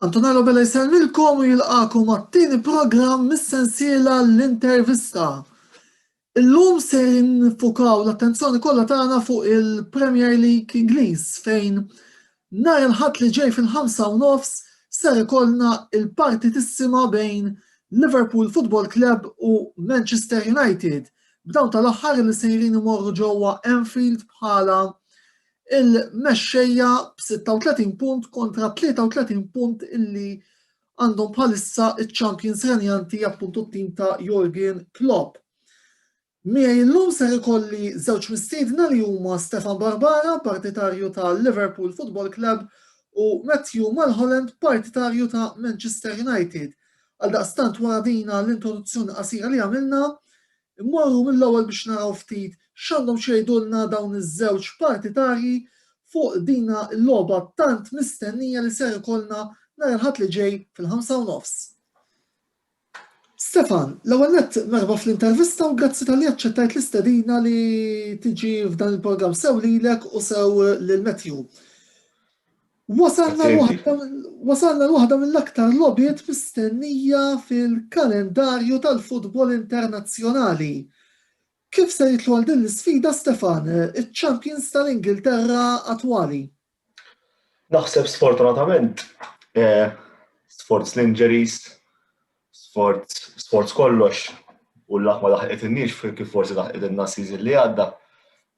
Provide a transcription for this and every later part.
Antonello Bella jisellmilkom u jilqakom għat-tieni programm mis-sensiela l-intervista. Illum se nfukaw l-attenzjoni kollha tagħna fuq il-Premier League Ingliż fejn nhar il-ħadd li ġej fil-ħamsa u nofs ser ikollna il-partitissima bejn Liverpool Football Club u Manchester United B'dawn tal-aħħar li sejrin imorru ġewwa Anfield bħala il-mexxejja b'36 punt kontra 33 punt illi għandhom bħalissa iċ-champions renjanti appuntu t-tim ta' Jurgen Klopp. Miegħi llum ser ikolli żewġ mistiedna li huma Stefan Barbara, partitarju ta' Liverpool Football Club, u Matthew Mulholland, partitarju ta' Manchester United. Għaldaqstant wara din l-introduzzjoni qasira li għamilna, immorru mill-ewwel biex naraw ftit x'għandhom x'jgħidulna dawn iż-żewġ partitarji fuq dina l-logħba tant mistennija li ser ikollna nhar il-Ħadd li ġej fil-ħamsa u nofs. Stefan, l-ewwel nett merħba fl-intervista u grazzi talli aċċettajt l-istedina li tiġi f'dan il-programm sew lilek u sew lil Matthew. Wasalna l-waħda mill-aktar logħbiet mistennija fil-kalendarju tal-futbol internazzjonali. Kif se jidħlu għal din l-isfida, Stefan, iċ-champions tal-Ingilterra attwali? Naħseb sfortunatament, sforz l-injuries, Sforz, sforz kollox u l-laħ ma laħqet in-nix kif forsi laħqet in-nas season li għadda.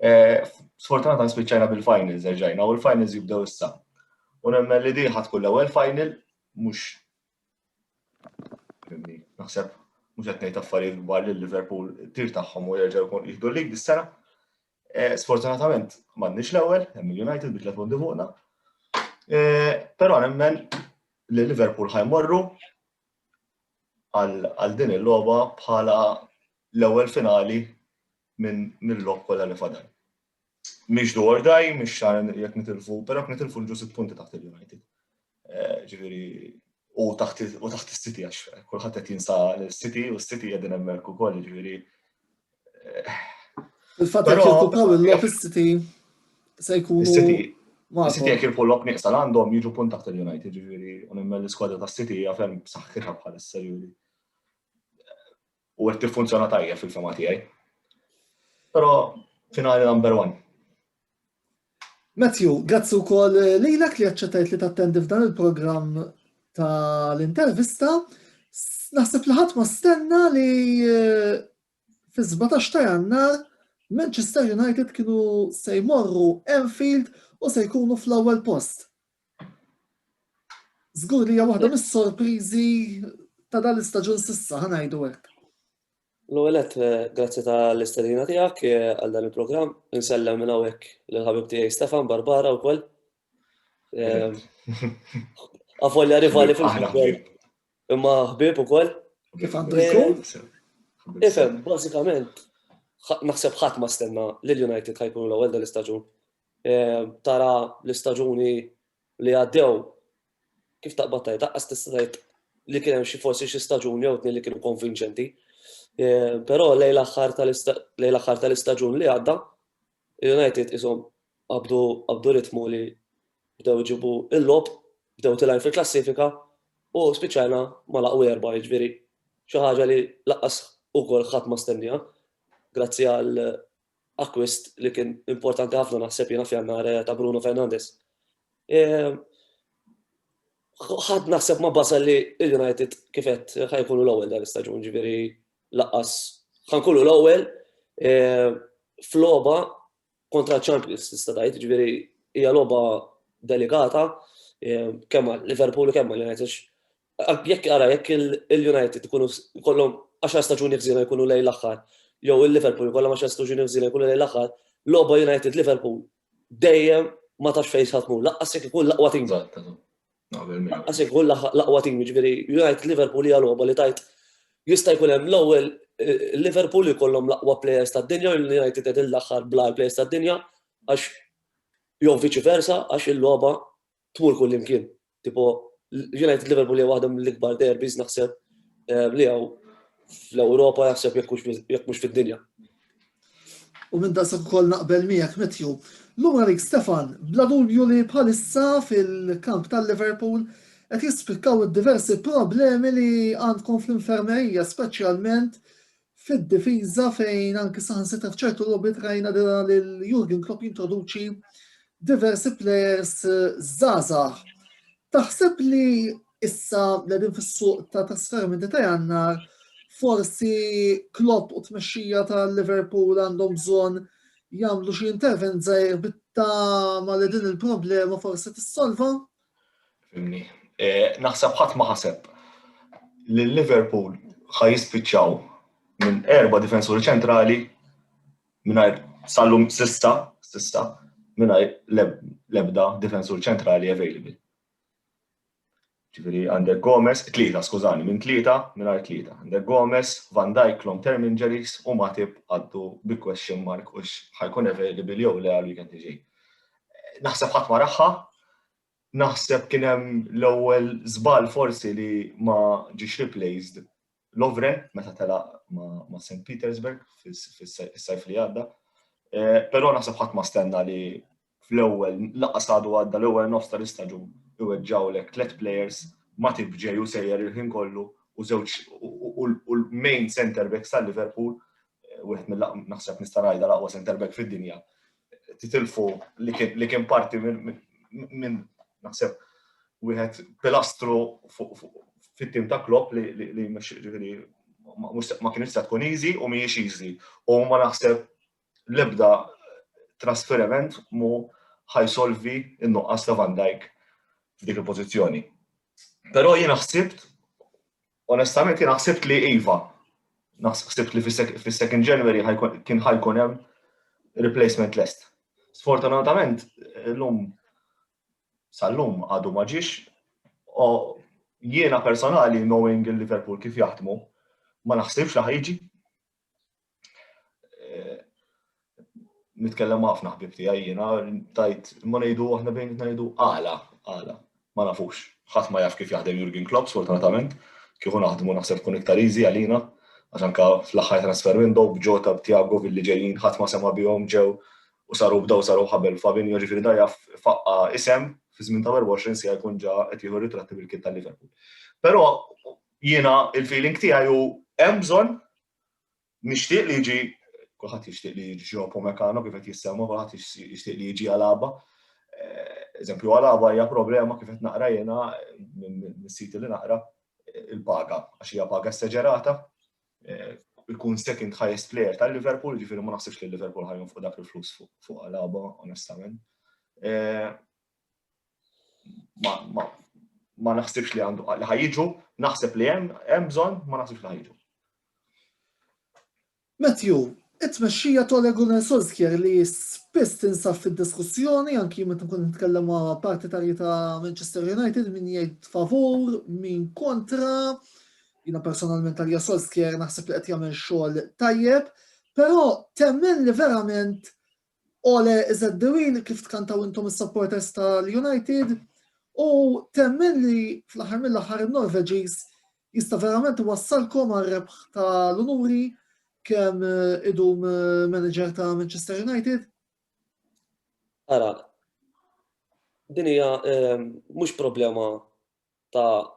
Eh, sfortunatament spiċċajna bil-finals erġajna u l-finals jibdew issa. U nemmen li diħa tkun l-ewwel final mhux naħseb mhux qed ngħid affarijiet kbar lil Liverpool tir tagħhom u jerġgħu jkun jieħdu lig dis-sena. Eh, sfortunatament, m'għandniex l-ewwel, hemm il-United bi tliet punti fuqna. Eh, però nemmen li Liverpool ħajmorru għal din il-logħba bħala l-ewwel finali minn mill-logħob kollha li fadal. Mhix dwar daj, mhix xar jekk nitilfu, però jekk nitilfu l-ġu sitt punti taħt il-United. Ġifieri u taħt u taħt is-City għax kulħadd qed jinsa l-City u s-City qegħdin hemmhekk ukoll, ġifieri. Il-fatt li jokkupaw il-lok is-City se jkunu. Is-City City jekk il-pull up nieqsa għandhom jiġu punt taħt il-United, ġifieri u nimmel l-iskwadra tas-City hija ferm saħħitha bħalissa ġifieri. u qed tiffunzjona tajjeb fil-fema tiegħi. Però finali number one. Matthew, grazzi wkoll lilek li aċċettajt li tattendi f'dan il-programm tal-intervista. Naħseb li ħadd ma stenna li eh, fi 17 ta' jannar Manchester United kienu se jmorru Enfield u se jkunu fl-ewwel post Żgur li hija waħda mis-sorpriżi ta' dan l-istaġun sissa ħanajdu hekk. L-ewwel qed eh, grazzi tal-istedina tiegħek eh, għal dan il-programm, insellem minn hawnhekk lil ħabib tiegħi Stefan Barbara wkoll. Eh, Avolja rivali fil-futbol. Imma ħbib ukoll. Kif għandu jkun? Ifhem, bażikament, naħseb ħadd ma stenna li l-United ħajkunu l-ewwel dan l-istaġun. tara l-istaġuni li għaddew, kif taqbad tajt, taqqas tista' tajt li kien hemm xi forsi xi staġuni jew tnejn li kienu konvinċenti. Eh, però lejn l-aħħar tal-istaġun li għadda, United isom għabdu ritmu li bdew ġibu il-lob, bdew tilajn fil-klassifika u spiċajna ma laqu erba ġviri. Xi ħaġa li laqqas ukoll ħadd ma stennija, grazzi għal Akkwist li kien importanti ħafna naħseb jiena f'Jannar eh, ta' Bruno Fernandez. Eh, ħadd naħseb ma basal li l-United kifet ħajkunu l-ewwel dan l-istaġun, ġifieri laqqas ħankunu l-ewwel eh, f'logħba kontra Champions tista' tgħid, ġifieri hija logħba delikata kemm Liverpool kemm United Jekk ara jekk il-United ikunu kollhom 10 staġuni ħżiena jkunu lejn l-aħħar, jew il-Liverpool kollhom 10 staġuni ħżiena jkunu lejn l-aħħar, logħba United Liverpool dejjem ma tafx fejn sa tmur, laqqas jekk ikun l-aqwa tim. Laqqas jekk ikun l-aqwa tim, jiġifieri United Liverpool hija logħba li tajt jista' jkun hemm l-ewwel Liverpool li kollhom l-aqwa players tad-dinja, l-United qed il-aħħar bla players tad-dinja, għax jew viċi versa, għax il-logħba tmur kull imkien. Tipo, United Liverpool hija waħda mill-ikbar derbis naħseb eh, li hawn fl-Ewropa naħseb jekk mhux fid-dinja. U minn daqsa ukoll naqbel miegħek Matthew. Lura rik Stefan, bla dubju li bħalissa fil-kamp tal-Liverpool qed jispikkaw id-diversi problemi li għandkom fl-infermerija, speċjalment fid-difiża fejn anki saħansitra f'ċertu logħbiet rajna dira lil Jurgen Klopp jintroduċi diversi players żgħażagħ. Taħseb li issa qegħdin fis-suq ta' trasferimenti ta' jannar forsi Klopp u tmexxija ta' Liverpool għandhom bżonn jagħmlu xi intervent żgħir bitta ma li din il-problema forsi tissolva? Fimni. E, naħseb ħadd ma ħaseb li Liverpool ħa jispiċċaw minn erba' difensuri ċentrali mingħajr sallum sissa, sissa, mingħajr l-ebda difensur ċentrali available. Ġifieri għandek Gomez, tlieta, skużani, minn tlieta, mingħajr tlieta. Għandek Gomez, Van Dijk long term injuries u Matip għaddu bi question mark u ħajkun available jew le għal weekend iġej. naħseb ħadd ma raħħa, naħseb kien hemm l-ewwel żball forsi li ma ġiex replaced Lovren meta tela ma' St. Petersburg fis-sajf li għadda. Eh, però naħseb ħadd ma stenna li fl-ewwel laqas għadu għadda l-ewwel nofs tal-istaġun iweġġawlek tliet players ma tibġej u sejjer il-ħin kollu u żewġ u l-main center backs tal-Liverpool wieħed mill naħseb nista' ngħidha l-aqwa center back fid-dinja, titilfu li kien parti minn naħseb wieħed pilastru fit-tim ta' Klopp li ma kienx se tkun easy u mhijiex easy. U ma naħseb l-ebda trasferiment mu ħajsolvi n-nuqqas ta' Van Dijk f'dik il-pożizzjoni. Però jiena ħsibt Onestament jiena ħsibt li iva. Naħsibt li fis-second January kien ħajkun hemm replacement list. Sfortunatament, l-lum sal-lum għadu ma ġiex, jiena personali knowing il-Liverpool kif jaħdmu, ma naħsibx li ħajġi. eh, nitkellem ħafna ħbib tiegħi jiena tajt ma ngħidu aħna bejn ngħidu għala għala ma nafux. Ħadd ma jaf kif jaħdem Jurgen Klopp sfortunatament, kieku naħdmu naħseb kun iktar easy għalina għax anka fl-aħħar transfer window b'ġota b'Tiago billi ġejjin ħadd ma sema bihom ġew u saru bdaw saru ħabel Fabinho ġifieri da jaf faqqa isem fi żmien ta' 24 sija jkun ġa qed jieħu ritratti bil-kit tal-Liverpool. Però Jiena il-feeling tiegħi hu hemm bżonn nixtieq li jiġi kulħadd jixtieq li jiġi Joe Pomecano kif qed jissemma, kulħadd jixtieq li jiġi għalaba. Eh, eżempju għalaba hija problema kif qed naqra jiena mis-siti li naqra il-paga għax hija paga seġerata eh, ikun second highest player tal-Liverpool, ġifieri ma naħsibx li Liverpool ħajjon fuq dak il-flus fuq għalaba, onestament. Eh, ma naħsibx li għandu li ħajġu, naħseb li hemm hemm bżonn, ma naħsibx li ħajġu. Matthew, it-tmexxija ta' Regular Solskjaer li spiss tinsab fid-diskussjoni anki meta nkun nitkellem ma' partitarji ta' Manchester United min jgħid favur, min kontra. Jina personalment għalja Solskjaer naħseb li qed jagħmel xogħol tajjeb, però temmen li verament Ole iżgħet Dewin kif tkantaw intom is-supporters tal-United u temmen li fl-aħħar mill-aħħar in-Norveġiż jista' verament iwassalkom għar-rebħ tal-unuri kemm eh, idum eh, manager ta' Manchester United? Ara, din hija eh, mhux problema ta'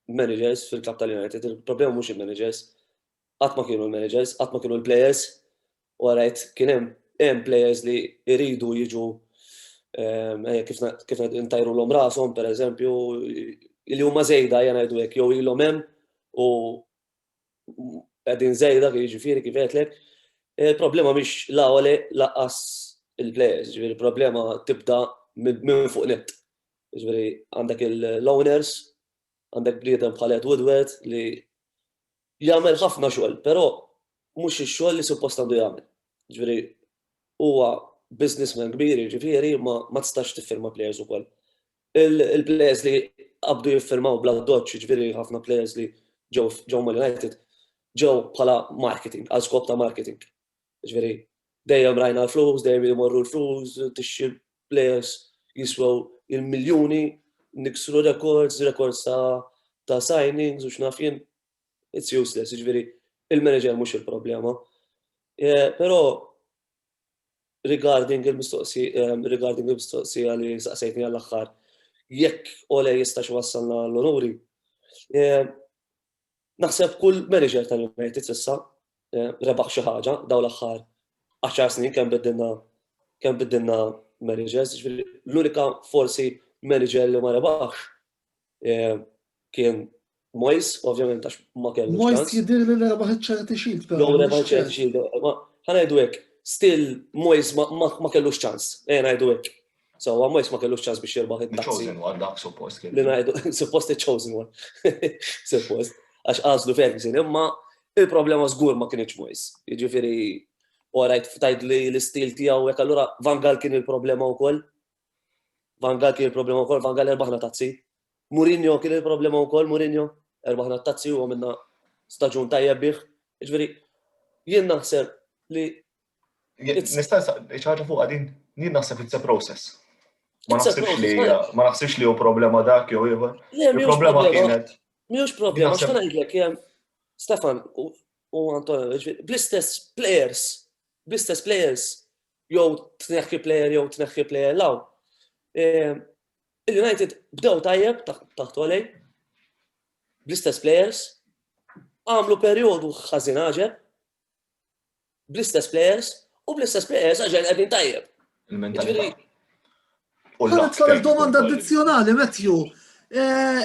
managers fil-klab tal-United, il-problema mhux il-managers, Qatt ma kienu l-managers, qatt ma kienu l-players u rajt kien hemm hemm players li jridu jiġu kif intajrulhom rashom pereżempju li huma żejda ejja ngħidu hekk jew ilhom hemm u qegħdin żejda kif jiġifieri kif għedlek. Il-problema mhix la Ole laqqas il-players, ġifieri l-problema tibda minn fuq nett. Ġifieri għandek l-owners, għandek bliedem bħal Ed Woodward li Jagħmel ħafna xogħol, però mhux ix-xogħol li suppost għandu jagħmel. Jiġifieri huwa businessman kbir jiġifieri imma ma tistax tiffirma plejers ukoll. Il-plejers li qabdu jiffirmaw bl-addoċċ jiġifieri ħafna plejers li ġew ġew mal-United ġew bħala marketing, għal skop ta' marketing. Ġifieri, dejjem rajna l-flus, dejjem imorru l-flus, tixxi players jiswew il-miljuni, niksru rekords, rekords ta' signings u x'naf jien. It's useless, ġifieri, il-manager mhux il-problema. Eh, però regarding il-mistoqsija eh, regarding il-mistoqsija li saqsejtni għall-aħħar, jekk ole jistax wassalna l-onuri, eh, Naħseb kull manager tal-United sissa eh, rebaħ xi ħaġa daw l-aħħar 10 snin kemm biddilna kemm biddilna managers, l-unika forsi manager li ma rebaħx eh, kien Mois, ovvjament, għax ma kellu. Mois jidir li rebaħ ċerti xilt. Jow rebaħ ċerti xilt. ħanajdu għek, still Mois ma kellu ċans. Ejna għajdu għek. So, għamwejs ma kellux ċans biex jirbaħ it-taxi. Chosen one, dak suppost kien. Li najdu, suppost chosen one. Suppost. Għax għazlu Ferguson, imma il-problema zgur ma kienieċ mwejs. Ġifiri, u għarajt ftajt li l-istil tijaw, jek allura Van Gaal kien il-problema u koll. Van Gaal kien il-problema u koll, Van Gaal erbaħna tazzi. Mourinho kien il-problema u koll, Mourinho erbaħna tazzi u għamilna staġun tajja biħ. Ġifiri, jien naħseb li Nista' ċaġa fuq għadin, nien naħseb it's a process. Ma naħsibx li ma naħsibx li hu problema dak jew ieħor. Il-problema kienet. Mhux problema, x'ta ngħidlek Stefan u Antonio, bl-istess players, bl-istess players, jew tneħħi player jew tneħħi player law. Eh, Il-United bdew tajjeb taħt għalej, bl-istess players, għamlu periodu ħażin ħaġeb, bl-istess players u bl-istess players għax qegħdin tajjeb. Il-mentalità. Jiġifieri domanda addizzjonali, Matthew. Eh,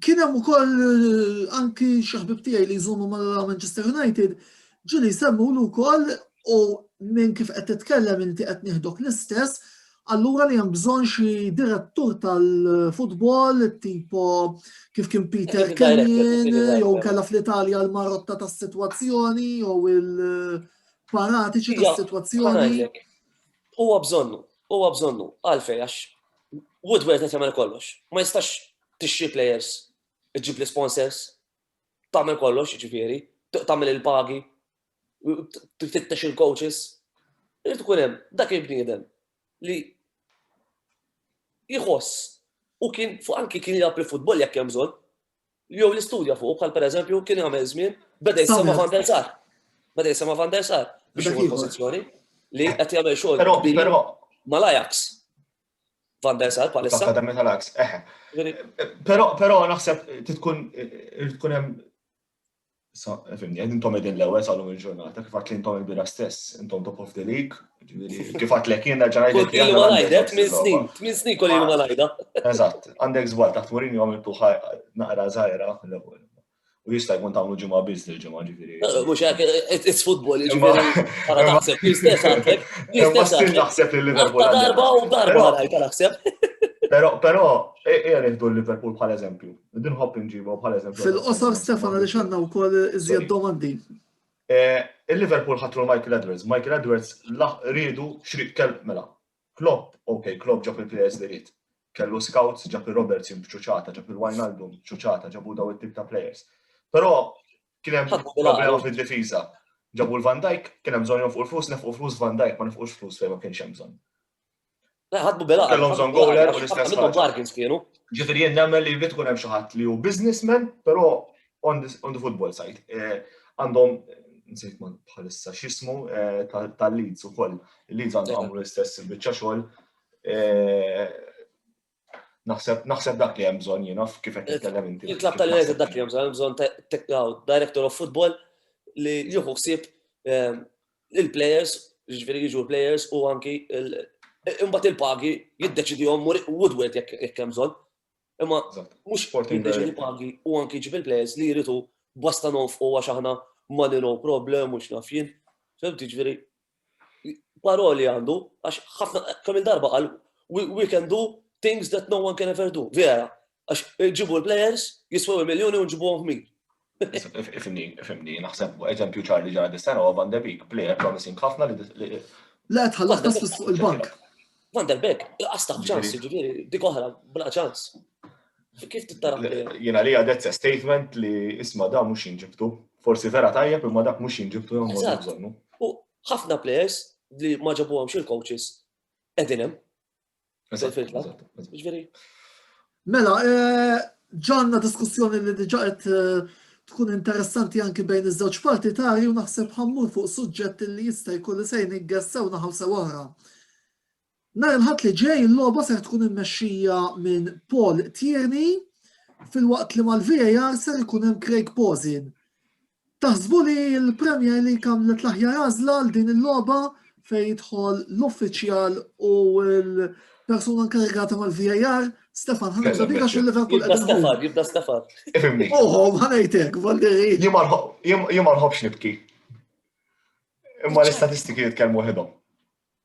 kien hemm ukoll eh, anki xi ħbib tiegħi li jżommu ma' Manchester United, ġieli jsemmu wkoll u minn kif qed titkellem inti qed nieħdok l-istess, Allura li hemm bżonn xi direttur tal-futbol tipo kif kien Peter Kenyon jew kella fl-Italja l-marotta tas-sitwazzjoni jew il-paratiċi tas-sitwazzjoni. Huwa bżonnu, huwa bżonnu għalfej għax Woodward qed jagħmel kollox. Ma jistax tixxi players, iġib l-sponsors, tagħmel kollox, ġifieri, tagħmel il-pagi, tfittex il-coaches, irid ikun hemm dak il-bniedem li jħoss u kien fuq anki kien jgħab il-futbol jekk hemm bżonn, jew l-istudja fuq bħal pereżempju kien jagħmel żmien beda jisema' Van der Sar. Beda jisema' Van der Sar biex jieħu pożizzjoni li qed jagħmel xogħol. Però però mal-Ajax. Van der Sar bħalissa. L-Akademja tal-Ajax. Però però naħseb tkun tkun hemm Fimni, intom edin l-ewel salum il-ġurnata, kif għatli intom il-bira stess, intom top of the league, kif għatli kien raġan għajda. Kif għatli għajda, tmin snin, tmin snin kolli għajda għajda. Eżat, għandek zbal ta' tmurini għom il-tuħa naqra zaħira l-ewel. U jista' jkun tagħmlu ġimgħa biss li ġimgħa ġifieri. Mhux hekk it's football ġifieri. Ara naħseb l-istess għandek. L-istess għandek. Naħseb li Liverpool. Darba u darba għajta naħseb. Però però ejja nieħdu Liverpool bħal eżempju. Din ħobb inġibu bħal eżempju. Fil-qosor Stefan għaliex għandna wkoll iżjed domandi. Eh, Il-Liverpool ħatru Michael Edwards. Michael Edwards rridu xriq kell mela. Klopp, ok, Klopp ġab il-players li rrid. Kellu scouts, ġab il-Roberts b'ċuċata, ġab il-Wijnaldum b'ċuċata, ġabu daw it-tip ta' players. Però kien hemm problema fid-difiża. Ġabu l-Van Dijk, kien hemm bżonn fuq il-flus, nefqu flus Van Dijk, ma nefqux flus fejn ma kienx hemm bżonn. Ħadmu bil-għaqal. Kellhom bżonn goaler u l-istess. Minnhom bargains kienu. Ġifieri jien nagħmel li jrid ikun hemm xi ħadd li hu businessman, però on the football side. Eh, għandhom nsejt man bħalissa xismu eh, tal-Leeds u koll. Il-Leeds għandu għamlu l-istess bieċa xogħol. Eh, Naħseb naħseb dak li hemm bżonn jiena kif qed nitkellem inti. Il-klabb tal-Inez dak li hemm bżonn bżonn tekkaw director of football li jieħu ħsieb eh, il-players, jiġifieri jiġu l-players u anki imbagħad il-pagi jiddeċidihom Woodward jekk hemm bżonn. Imma mhux jiddeċidi pagi u anki ġib il-players li jridu basta nofqu għax aħna money no problem u x'naf jien. Fimti ġifieri paroli għandu, għax ħafna kemm darba qal we can do things that no one can ever do. Vera, għax ġibu l-players jiswew il-miljoni u ġibu għommi. Ifimni, ifimni, naħseb eżempju ċarli ġara dis-sena u Van de Beek, player promising ħafna li. Le, tħallas tasfis fuq il-bank. Van der Beek, laqas ta' ċans, ġifieri, dik oħra, bla ċans. Kif tittara? Jena li għadet statement li isma da mux jinġibtu. Forsi vera tajjeb imma dak mux jinġibtu jom bżonnu. U ħafna players li ma ġabu għamx il-coaches edinem. Ġveri. Mela, ġanna diskussjoni li diġa qed tkun interessanti anki bejn iż-żewġ partitari u naħseb ħammur fuq suġġett li jista' jkun li sejn iggessew naħaw sew oħra. Nar il-ħadd li ġej il-logħba ser tkun immexxija minn Paul Tierney fil-waqt li mal-VAR ser ikun hemm Craig Posin. Taħsbu li l-Premier League għamlet l-aħjar għażla għal din il-logħba fejn jidħol l-uffiċjal u l-persuna nkarigata mal-VAR, Stefan ħana ġabika xi Liverpool qed Stefan, jibda Stefan. Ifimni. Oħo, ma ngħidlek, Valderi. Jien ma nħobbx nibki. Imma l-istatistiki jitkellmu ħidhom.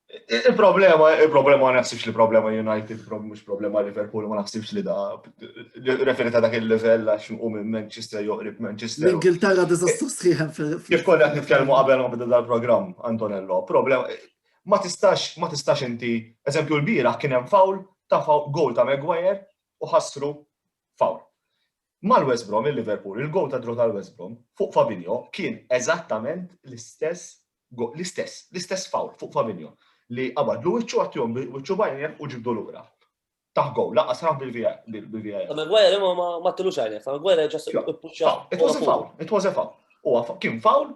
Il-problema, il-problema ma naħsibx li problema United, mhux problema Liverpool, ma naħsibx li da referi ta' dak il-level għax nqum minn Manchester joqrib Manchester. L-Ingilterra diżastru sħiħem fil Kif konna qed nitkellmu qabel ma bda dal-programm Antonello, problema ma tistax ma tistax inti, eżempju l-bira kien hemm fawl ta' fawl gol ta' Maguire u ħassru fawl. Mal-West Brom il-Liverpool, il-gol ta' draw tal-West Brom fuq Fabinho kien eżattament l-istess l-istess, l-istess foul fuq Fabinho li qabadlu wiċċu għattihom wiċċu bajnija u ġibdu lura. Taħ gowl, laqqa sraħ bil-VAR. Ma Maguire imma ma tilux għajnek, ma Maguire ġas puċċa. It was a foul, it was a foul. U kien foul,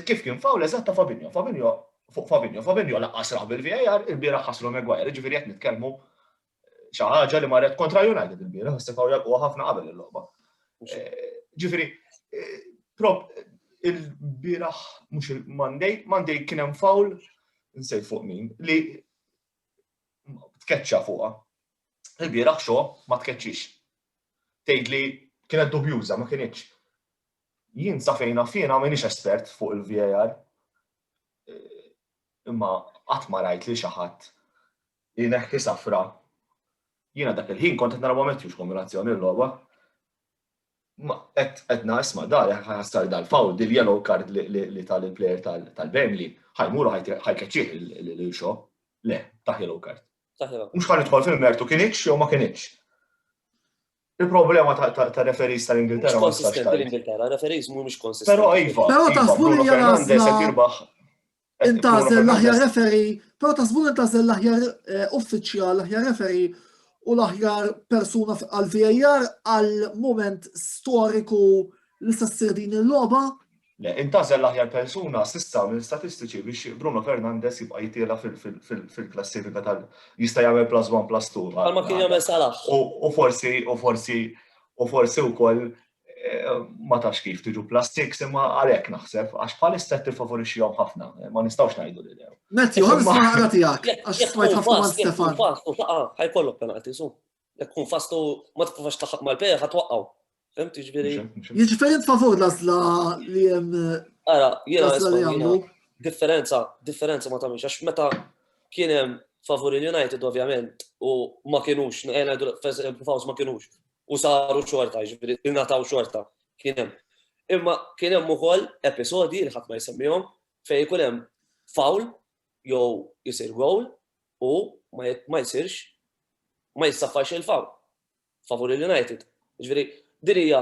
kif kien foul eżatta Fabinho, Fabinho fuq Fabinho, Fabinho laqqa sraħ bil-VAR, il-bira ħaslu Maguire, ġifieri qed nitkellmu Xi ħaġa li marret kontra United il-bieraħ, istifaw jalquha ħafna qabel il-logħba. Eh, ġifieri, eh, prop il-bieraħ mhux il-Monday, Monday kien hemm fawl nsej fuq min li tkeċċa fuqha. Il-bieraħ xo ma tkeċċix. Tgħidli kienet dubjuża ma kienitx. Jien sa fejn fjena m'iniex espert fuq il-VAR. Eh, imma qatt ma rajt li xi ħadd li jneħħi safra. Jiena dak il-ħin kont qed nara ma' Matthews kombinazzjoni l-logħba. Qed qed isma' dar ħassar dal-fawl dil-yellow card li tal il-plejer tal-Burnley ħajmuru ħajkeċċih il-xo. Le, taħ yellow card. Mhux ħan idħol fil-mertu kien iċ jew ma kien iċ. Il-problema ta' referis tal-Ingilterra. Mhux konsistenti l-Ingilterra, referis mhumiex konsistenti. Però iva. Però iva, taħsbu li Fernandez qed jirbaħ Intażel l-aħjar referi, però ta' żbun intażel l-aħjar eh, uffiċjal, l-aħjar referi u l-aħjar persuna għal-VAR għal-moment storiku li se ssir din il-logħba. Le, intażel l-aħjar persuna sissa minn statistiċi biex Bruno Fernandez jibqa' jitiela fil-klassifika tal jista' jagħmel plus 1 plus 2. Għalma kien jagħmel salaħ. U forsi u forsi u forsi wkoll ma tax kif tiġu plus 6 imma għalhekk naħseb għax bħalissa tiffavorixxihom ħafna, ma nistgħux ngħidu li lew. Mezzi, ħolż ma ħara tiegħek għax smajt ħafna ma Stefan. Fastu taqa' ħajkollok penalti su. Jekk kun fastu ma tkunx taħaq mal-pejja ħatwaqqgħu. Fehmt jiġifieri. Jiġifieri tfavur l-għażla li hemm. Ara, jiena differenza, differenza ma tagħmilx għax meta kien hemm favur il-United ovvjament u ma kienux, ngħidu ma kienux u saru xorta, jiġifieri ingħataw xorta kien hemm. Imma kien hemm ukoll episodji li ħadd ma jsemmihom fejn ikun hemm fawl jew jisir gowl u ma jsirx ma jissaffax il-fawl favur il-United. Ġifieri din hija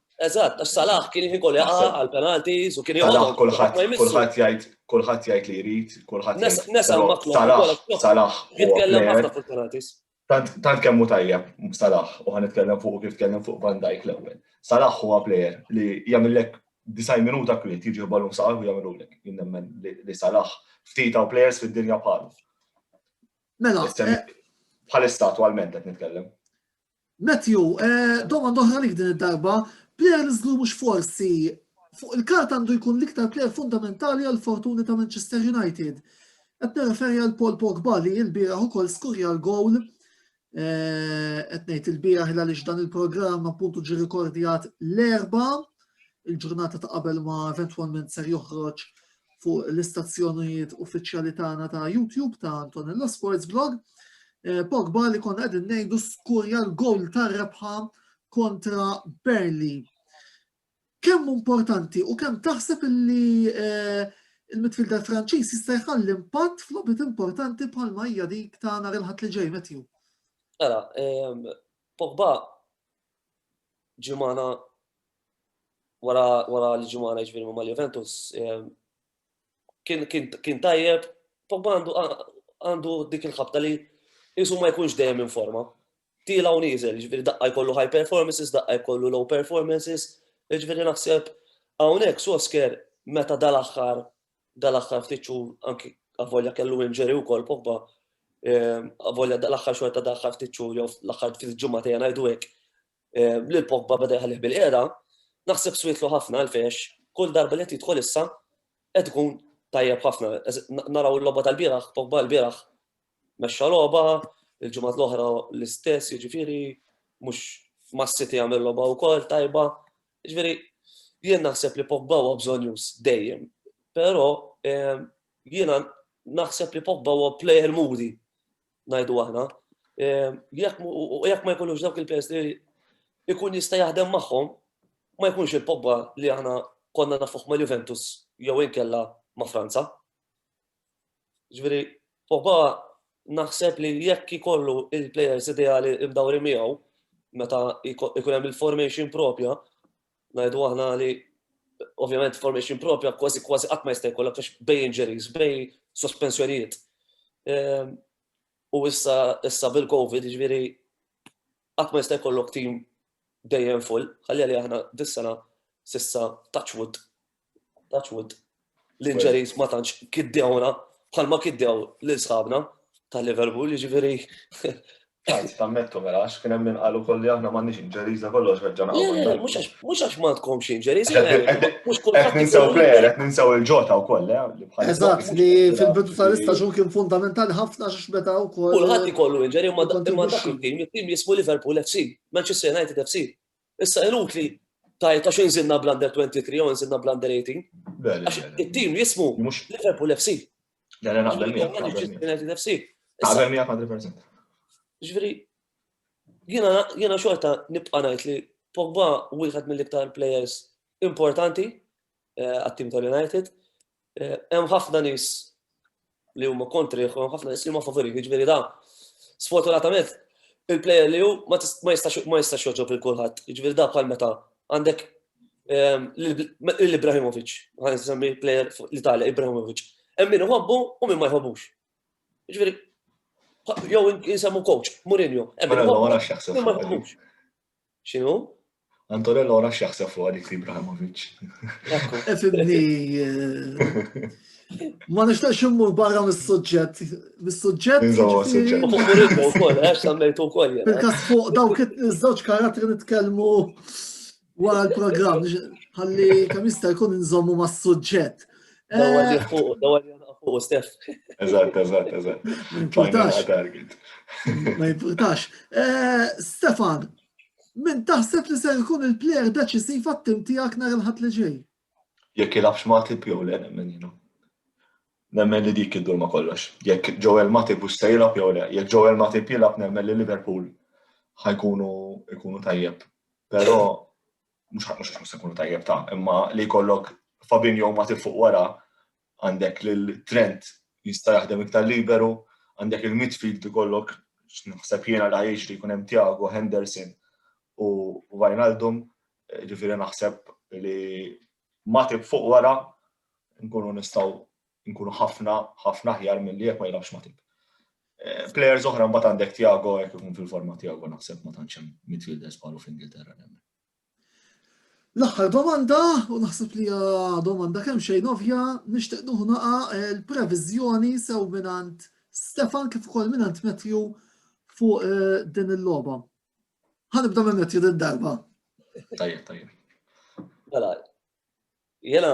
Eżatt, għax Salah kien jħin kollu jaqa' għal penalties u kien joqgħod. Kulħadd kulħadd jgħid kulħadd jgħid li jrid, kulħadd jgħid. Nesa Salah, Salah. Jitkellem ħafna fuq penalties. Tant kemm hu tajjeb Salah u ħan nitkellem fuq kif tkellem fuq Van Dijk l-ewwel. Salah huwa plejer li jagħmillek disaj minuta kwiet jiġi ballum Salah u jagħmilulek. Jien nemmen li Salah ftit hawn plejers fid-dinja bħalu. Mela, eh, bħalissa attualment qed nitkellem. Matthew, domanda oħra għalik din id-darba, plejer li żgur mhux forsi fuq il-kart għandu jkun l-iktar plejer fundamentali għal fortuni ta' Manchester United. Qed nirreferi għal Paul Pogba li l-bieraħ ukoll skurja l-gowl qed ngħid il-bieraħ għaliex dan il-programm appuntu ġi rikordjat l-erba' il-ġurnata ta' qabel ma eventwalment ser joħroġ fuq l-istazzjonijiet uffiċjali tagħna ta' YouTube ta' Antonella Sports Blog. Eh, Pogba li konna qegħdin ngħidu skurja l-gowl tar-rebħa kontra Berli. Kemm importanti u kemm taħseb li eh, il-midfielder Franċiż jista' jħalli impatt f'lobit importanti bħal ma hija dik ta' nhar il-ħadd li ġej Matthew. Mela, ehm, Pogba ġimana wara wara l-ġimana ġifieri ma' Juventus ehm, kien kien kien tajjeb, Pogba għandu għandu dik il-ħabta li jisu ma jkunx dejjem in forma. Tila u nieżel, ġifieri daqqa jkollu high performances, daqqa jkollu low performances, ġifieri naħseb hawnhekk Sosker meta dal-aħħar dal-aħħar ftit xhur anki avolja kellu injury wkoll Pogba avolja dal-aħħar xogħol ta' dal-aħħar ftit xhur jew l-aħħar ftit ġimgħa tejja ngħidu hekk lil Pogba beda jħallih bil-qiegħda, naħseb swietlu ħafna għalfejx kull darba li qed jidħol issa qed ikun tajjeb ħafna. Naraw il-logħba tal-bieraħ, Pogba l-bieraħ mexxa logħba, il-ġimgħat l-oħra l-istess, jiġifieri mhux mas-City għamel logħba wkoll tajba, Jiġifieri jien naħseb li Pogba huwa bżonjuż dejjem, però ehm, jiena naħseb li Pogba huwa player moody, ngħidu aħna. Ehm, jekk ma jkunux dawk il-players li jkun jista' jaħdem magħhom, ma jkunx il-Pogba li aħna konna nafuh ma' Juventus jew inkella ma' Franza. Ġviri, Poba naħseb li jekk ikollu il-players ideali imdawri miegħu, meta ikun hemm il-formation propja, ngħidu aħna li ovvjament formation propja kważi kważi qatt ma jista' jkollok għax bej injuries, bej sospensjonijiet. Ehm, u issa issa bil-COVID, ġifieri qatt ma jista' jkollok tim dejjem full, ħalli li aħna dis-sena sissa touchwood Touch wood. L-injuries ma tantx kiddewna bħalma kiddew lil sħabna ta' Liverpool, jiġifieri. Għanzi, tammettu mela, għax kien hemm inqalu kolli aħna m'għandniex inġeriża kollox reġġa' naqgħu. Mhux għax ma tkomx inġeriża. Mhux kulħadd. Qed ninsew plejer, qed ninsew il-ġota wkoll, eh, li bħal. Eżatt, li fil-bidu tal-istaġun kien fundamentali ħafna għax meta wkoll. Kulħadd ikollu inġeri imma dak il-tim, it-tim jismu Liverpool FC, Manchester United FC. Issa inutli tajt għax inżinna bl-under 23 u inżinna bl-under 18. Għax it-tim jismu Liverpool FC. Għana naqbel miegħek. FC. Għabel miegħek 100%. Ġifieri jiena xorta nibqa' ngħid li Pogba wieħed mill-iktar players importanti eh, għat-tim tal-United Hemm ħafna nies li huma kontrih u hemm ħafna nies li huma favorih, jiġifieri da sfortunatament il-plejer li hu ma jistax joġob il kulħadd. Jiġifieri da bħal meta għandek ehm, l-Ibrahimovic, għan semmi plejer l-Italja, Ibrahimovic. Hemm min iħobbu u min ma jħobbux. Jiġifieri jew jinsemmu coach, Mourinho. Hemm min iħobbu. X'inhu? Antonello ora x'jaħseb fuq għalik li Ibrahimovic. Efimni. Ma nixtaqx immur barra mis-suġġett. Mis-suġġett. Nżomma suġġett. Fuq Mourinho wkoll, għax semmejtu wkoll. Fil-każ fuq dawk iż-żewġ karattri nitkellmu wara l-programm. Ħalli kemm jista' jkun nżommu mas-suġġett. Dawar li fuq, dawar li fuq, Stef. Eżatt, eżatt, eżatt. Ma jimpurtax. Eh, Stefan, minn taħseb li se jkun il-plejer deċisiv għat-tim tiegħek nar il-ħadd li ġej? Jekk jilafx Matip jew le nemmen jienu. Nemmen li dik id-dur ma kollox. Jekk Joel Matip u se jilaf jew le, jekk Joel Matip jilaf nemmen li Liverpool ħajkunu ikunu tajjeb. Però mhux ħadd mhux se jkunu tajjeb ta' imma li jkollok Fabinho ma tifuq wara għandek lil Trent jista' jaħdem iktar liberu, għandek il-midfield ikollok x'naħseb jiena li jiġri jkun hemm Tiago, Henderson u Wijnaldum, ġifieri naħseb li ma tib fuq wara nkunu nistgħu Inkunu ħafna, ħafna aħjar milli jekk ma jilgħabx Matip. Eh, players oħra mbagħad għandek Tiago jekk ikun fil-forma Tiago naħseb ma tantx hemm midfielders bħalu f'Ingilterra nemmen. L-aħħar domanda, u naħseb li domanda kemm xejn ovvja, nixtieq nuħu naqa eh, l-previżjoni sew minant Stefan kif ukoll minant Matthew fuq eh, din il-logħba. Ħanibda minn Matthew din darba. Tajjeb, tajjeb. Mela, Jena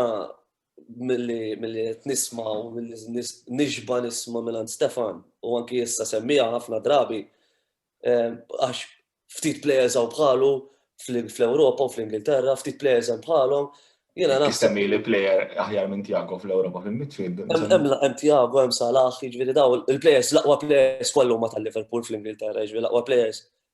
mill-li nisma u mill-li nixba nisma mill Stefan u anki jessa semmija ħafna drabi eh, għax ftit players għaw bħalu fl-Europa u fl-Ingilterra, ftit players għaw bħalu. Jena naħseb. Semmi li player aħjar minn Tiago fl-Europa fil-midfield. Hemm Tiago, hemm Salah, jiġifieri daw il-players, l-aqwa players kollu ma tal-Liverpool fl-Ingilterra, jiġifieri l-aqwa players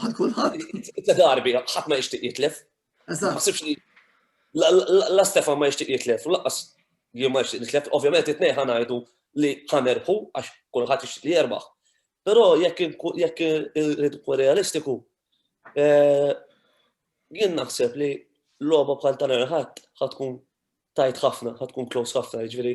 Għal kulħadd. Tliet darbi ħadd ma jixtieq jitlef. Eżatt. La Stefan ma jixtieq jitlef, u laqqas jien ma jixtieq jitlef, ovvjament it-tnej ħanajdu li ħanerħu għax kulħadd jixtieq li jerbaħ. Però jekk jekk irrid realistiku, eh, jien naħseb li logħba bħal tal-erħat ħatkun tajt ħafna, ħatkun close ħafna, jiġifieri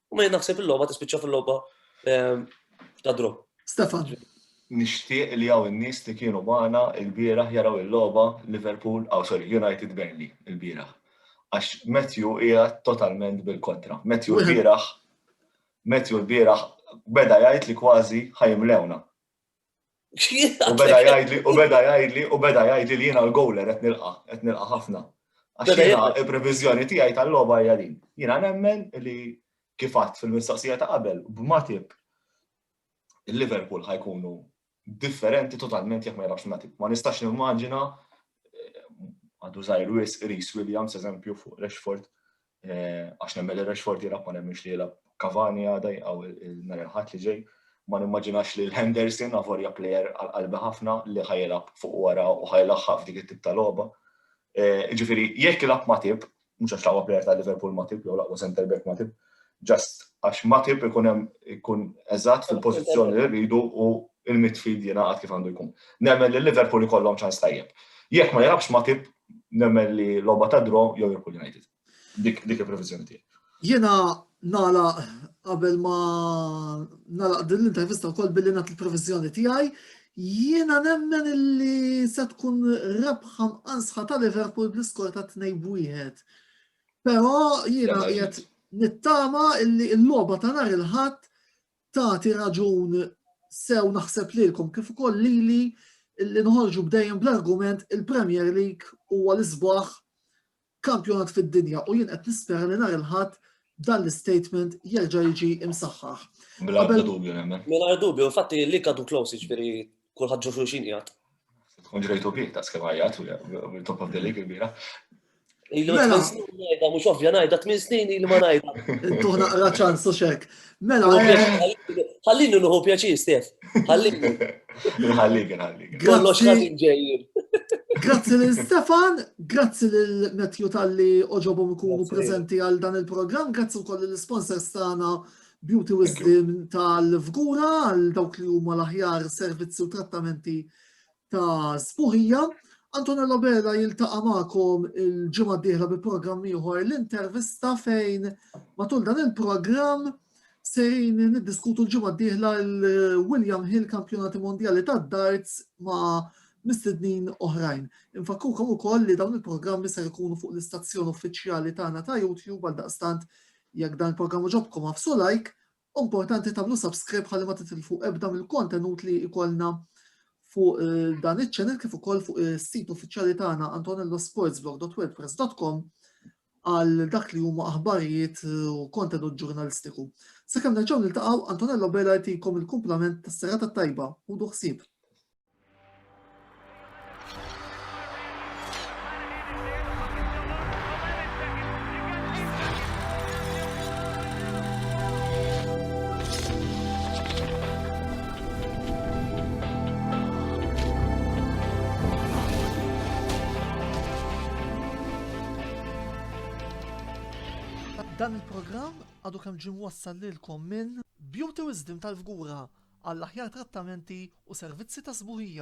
U ma naħseb il-logħba tispiċċa fil-logħba ehm, ta' dro. Stefan. Nixtieq li hawn in-nies li kienu magħna l-bieraħ jaraw il-logħba Liverpool, aw oh, sorry, United Burnley il-bieraħ. Għax Matthew hija totalment bil-kontra. Matthew l-bieraħ Matthew l-bieraħ beda jgħid li kważi ħajmlewna. U beda jgħidli, u beda jgħidli, u beda jgħidli li jiena l-gowler qed nilqa, qed nilqa ħafna. Għax jiena il-previżjoni tiegħi tal-logħba hija din. Jiena nemmen li kif għadd fil-mistaqsija ta' qabel, b'Matip il-Liverpool ħajkunu differenti totalment jekk ma jilgħabx Matip. Ma nistax nimmaġina eh, għadu żgħir wis Reese Williams eżempju fuq Rashford Eh, għax nemmen li Rashford jilab, ma nemmenx li jilab Cavani għada jgħaw il-nar il-ħat li ġej, ma nimmaġinax li l-Henderson għavorja player għal-qalbi ħafna li ħajlab fuq wara u ħajlaħħa f'dik it-tip ta' loba. Eh, ġifiri, jekk jilab matib, mux għax laqwa player ta' Liverpool matib, jew laqwa center back matib, just għax matib ikun hemm ikun eżatt fil-pożizzjoni li rridu u il-midfield jingħaqad kif għandu jkun. Nemmen li Liverpool ikollhom ċans tajjeb. Jekk ma jilabx matib, nemmen li logħba ta' draw jew Liverpool United. Dik dik il-previżjoni tiegħi. Jiena nala qabel ma nala din l-intervista wkoll billi nagħti l-previżjoni tiegħi, jiena nemmen li se tkun rebħa mqansħa ta' Liverpool bl-iskor ta' 2 wieħed. Però jiena qiegħed nittama illi l-logħba ta' nhar il-ħadd tagħti raġun sew naħseb lilkom kif ukoll lili li nħorġu bdejjem bl-argument il-Premier League huwa l-isbaħ kampjonat fid-dinja u jien qed nispera li nhar il-ħadd dan l-statement jerġa' jiġi imsaħħaħ. Mingħajr dubju, infatti li kadu close jiġifieri kulħadd ġo xulxin qiegħed. Tkun ġrejtu bih ta' skemm ħajjat u top of the league il-bira. Ilu mela. ngħidha mhux ovvja ngħidha tmien snin li ma ngħidha. Tuħ naqra ċans u xek. Mela. Eh. Ħallini nuħu pjaċir, Stef. Ħallini. Ħallik, ħallik. Kollox ħażin ġejjin. Grazzi lil Stefan, grazzi lil Matthew tal-li oġobhom ikunu prezenti għal dan il-programm, grazzi wkoll lill-sponsors tagħna Beauty Wisdom tal-Fgura għal dawk li huma l-aħjar servizzi u trattamenti ta' spuħija. Antonello Bella jiltaqa' magħkom il-ġimgħa d-dieħla bi programm ieħor l-intervista fejn matul dan il-programm sejn niddiskutu l-ġimgħa d-dieħla l-William Hill Kampjonati Mondjali tad-Darts ma' mistednin oħrajn. Infakkukom ukoll li dawn il-programmi ser ikunu fuq l-istazzjon uffiċjali tagħna ta' YouTube għal daqstant Jekk dan il-programm għoġobkom agħfsu like u importanti tagħmlu subscribe ħalli ma titilfu ebda mill-kontenut li jkollna fuq eh, dan iċ-channel kif ukoll fuq is-sit eh, uffiċjali tagħna antonellosportsblog.wordpress.com għal dak li huma aħbarijiet eh, u kontenut ġurnalistiku. Sakemm nerġgħu niltaqgħu Antonello Bela jtikom il-kumplament tas-serata tajba u duħsib. Dan il-programm għadu kemm ġim wassal lilkom minn Beauty Wisdom tal-Fgura għall-aħjar trattamenti u servizzi ta' sbuħija.